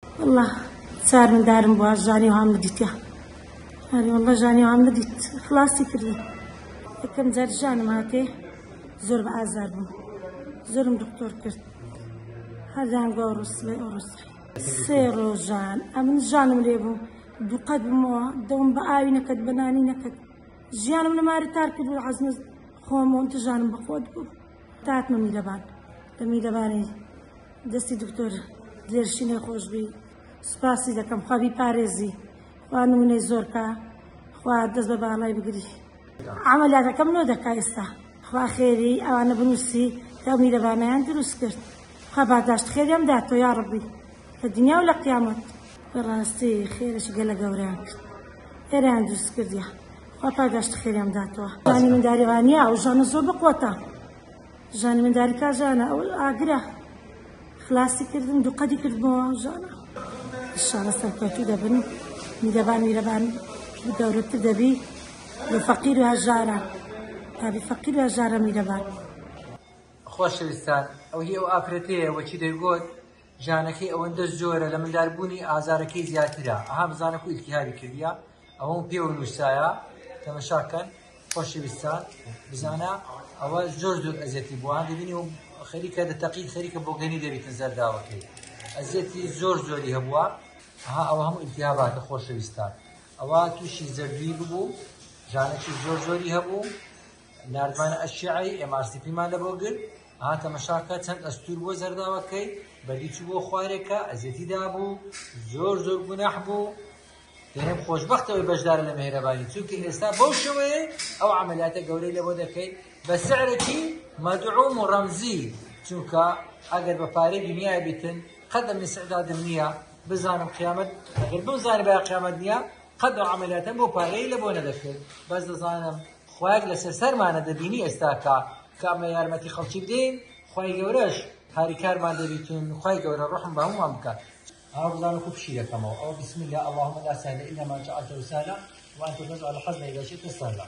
واللە چار مندارم بووە ژانی هەم دیتە ئەری واللە ژانی هەم دیت خلاصی کردی یەکەم جار ژانم هاتێ زۆر بە ئازار بووم زۆرم دکتۆر کرد هەردان گۆ ڕوسڵێ ئۆڕسڵێ سێ ڕۆژان ئەمن ژانم لێ بوو دوقەت بمەوە دەوم بە ئاوی نەکەت بەنانی نەکەت ژیانم لەماری تار کرد عزمز خۆم و دژانم بەخۆت بوو تاتمە میرەبان لە میرەبانی دەستی دکتۆر دێرشینە خۆشبی سوپاسی دەکەم خوا بیپارێزی خوا نمونەی زۆرکە خوا دەست بە باڵای بگری عملیاتەکەم نۆ دەکا ئێستا خوا خێری ئەوانە بنووسی کە میرەبانیان دروست کرد خوا باداشت خێریان داتۆ یا ڕبی لە دنیا و لە قیامەت بەڕاستی خێرەشی گەلە گەوریان کرد خێریان دروست کردیان خوا پاداشتی خێریان بداتەوە ژانی منداری وانە ئەو ژانە زۆر بەقوەتە ژانی منداری کا ژانە ئەو ئاگرە خلاصی کردن دوو قەدی کردمەوە ژانە شانە سەرکەوتو دەبن میدەبان میرەبان گەورەتر دەبی لە فەقیر و هەژارە تابی فەقیر و هەژارە میرەبان خۆشەویستان ئەو هی ئەو ئافرەتەیە وەچی دەیگوت ژانەکەی ئەوەندە زۆرە لە مندار بوونی ئازارەکەی زیاترە ئەها بزانە کو التهابی کردە ئەوەم پێ و نووسایە تەمەشاکەن خۆشەویستان بزانە ئەوە زۆر زۆر ئەزێتی بووان دەبینی و خەریکە دە تەقی خەریکە بۆگەنی دەبیتە زەرداوەکەی ئەزێتی زۆر زۆری هەبووە ئەها ئەوە هەموو التهاباتە خۆشەویستان ئەوە تووشی زەردوی ببوو ژانەکی زۆر زۆری هەبوو ناردمانە ئەشیعەی MRCP مان لە بۆ گرت هاتە مەشاکە چەند ئەستور بۆ زەرداوەکەی بەدیچ بۆ خوارێکە ئەزیەتی دابوو زۆر زۆر گوناح بوو دەێن خۆشببختەوەی بەشدار لە مهێرەبانی چونکە ئێستا بەو شێوەیە ئەو عملیاتە گەورەی لەوە دەکەیت بە سعرێکی مەدعوم و ڕەمزی چونکە ئەگەر بە پارەی دنیای بیتن قەدەم سعدادم نییە بزانم قیامەت ئەگەر بزانانی بە قیامەت نییە قەدە عملیاتە بۆ پارەی لە بۆ نەدەکرد بەس دەزانم خوایەک لەسەر سەرمانە دەبینی ئێستا کە کامە یارمەتی خەڵکی بدەین خی گەورەش هاریکارمان دەبیتون خی گەورە ڕحم بە هەمووان بکە هاوڵان وەکو پشی دەکەمەوە ئەو بسم الله اللهم لا سهل الا ما جعلته سهلا وانت تجعل الحزن اذا شئت سهلا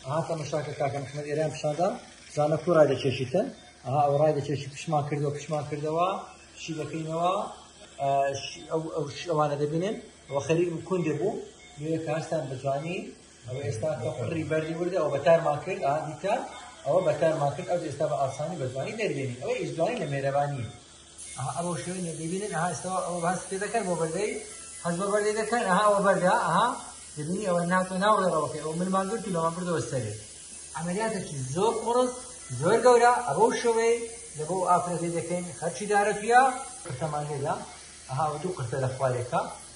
ئەها تەمەشاکە کاکە محمد ئێران پیشاندا زانە کو ڕای دەکێشیتن ئەها ئەو ڕای دەکێشی پشمان کردەوە پشمان کردەوە شی دەکەینەوە ئەوانە دەبینن و خەریک کون دەبوو نوێ کارستان بەجوانی ئەوە ئێستا بە قڕی بەردی وردە ئەو بەتارمان کرد ئادیتا ئەوە بەتارمان کرد ئەو ئێستا بە ئاسانی بەتوانی دەربێنی ئەوە ئیشدوانی لە مێرەبانی ئەوە شوێن دەبینن ئەها ئێستا ئەو باس پێ دەکەن بۆ بەردەی حەز بە بەردەی دەکەن ئەها ئەوە بەردا ئەها دەبینی ئەوە ناتۆ ناوڕێڕەوەکە ئەو منمان گرت و لەوان بردەوە سەرێ عملیاتێکی زۆر قڕز زۆر گەورە ئەوە شوێی لە بۆ ئافرەتی دەکەین خەرچی دارە پیا قرتەمان لێدا ئەها دوو قرتە لە خوارێکە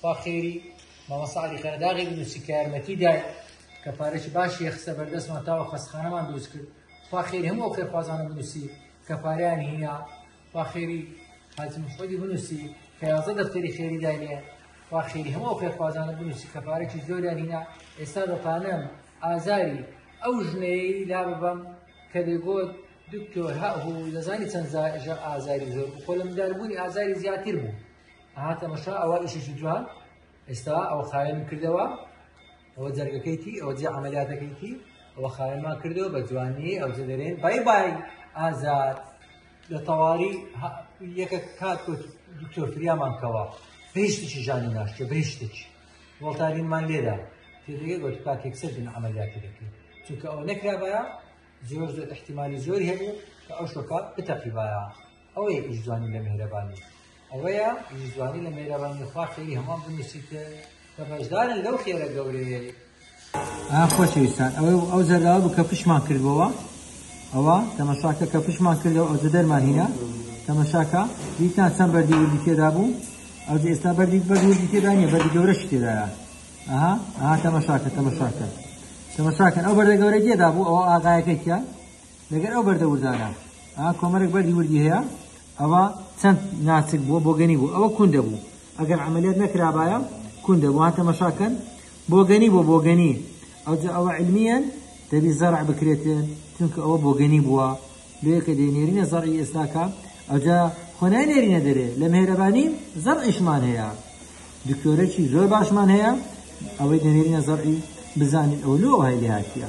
خوا خێری مامۆستا علی قەرداغی بنووسی کە یارمەتی دای کە پارێکی باشی یەخسە بەردەستمان تاوە خەسخانەمان دروست کرد خوا خێری هەموو ئەو خێرخوازانە بنووسی کە پاریان هینا خوا خێری حاجی محمدی بنووسی کە یازە دەفتەری خێری داینێ خوا خێری هەموو ئەو خێرخوازانە بنووسی کە پارێکی زۆریان هینا ئێستا بە پانەم ئازاری ئەو ژنەیە لا ببەم کە دەگۆت دکتۆر هەهوو دەزانی چەند ئازاری زۆر خۆ لە منداربوونی ئازاری زیاتر بوو ئەها تەمەشا ئەوە ئیشێکی جوان ئێستا ئەوە خاوێنم کردەوە ئەوە جەرگەکەیتی ئەوە جێ عملیاتەکەیتی ئەوە خاوێنمان کردەوە بە جوانی ئەو جەدەرێن بای بای ئازاد لە تەواری یەکە کات دکتۆر فریامان کەوە بهشتێکی ژانی ناشتە بهشتێکی وڵتارینمان لێدا تێدەگە گۆت کاتێک سەر بن عملیاتی دەکەین چونکە ئەوە نەکرابە زۆر زۆر احتیممانی زۆر هەبوو کە ئەو شۆکات بتەقیبایە ئەوەیە پیشجوانی لە مهرەبانی ئەوەیە پیشجوانی لە مهرەبانی خوا خێری هەمان بنووسیتە کە بەشدارن لەو خێرە گەورەیە خۆشەویستان ئەوە ئەو زەرداوە بوو کە پشمان کردبەوە ئەوە تەمەشاکە کە پشمان کردەوە ئەو دەرمان هینا تەمەشاکە دیتان چەند بەردی وردی تێدا بوو ئەو ئێستا بەردی بەردی تێدا نیە بەردی گەورەش تێدایە ئەها ئەها تەمەشاکە تەمەشاکە تەمەشاکەن ئەو بەردە گەورە تێدا بوو ئەو ئاغایەکە کە لەگەر ئەو بەردە وردانە ئا کۆمەرێک بەردی وردی هەیە ئەوە چەند ناچک بووە بۆگەنی بوو ئەوە کون دەبوو ئەگەر عملیات نەکرابایە کون دەبووان تەمەشاکەن بۆگەنی بۆ بۆگەنی ئەوجا ئەوە علمیان دەبی زەرع بکرێتێن چونکە ئەوە بۆگەنی بووە لێکە دێنێرینە زەڕی ئێستاکە ئەوجا خۆنای نێرینە دەرێ لە مێرەبانی زەڕ ئیشمان هەیە دکتۆرەی زۆر باشمان هەیە ئەوەی دەنێرینە زەڕی بزانین ئەو لۆ هەیە هاتیە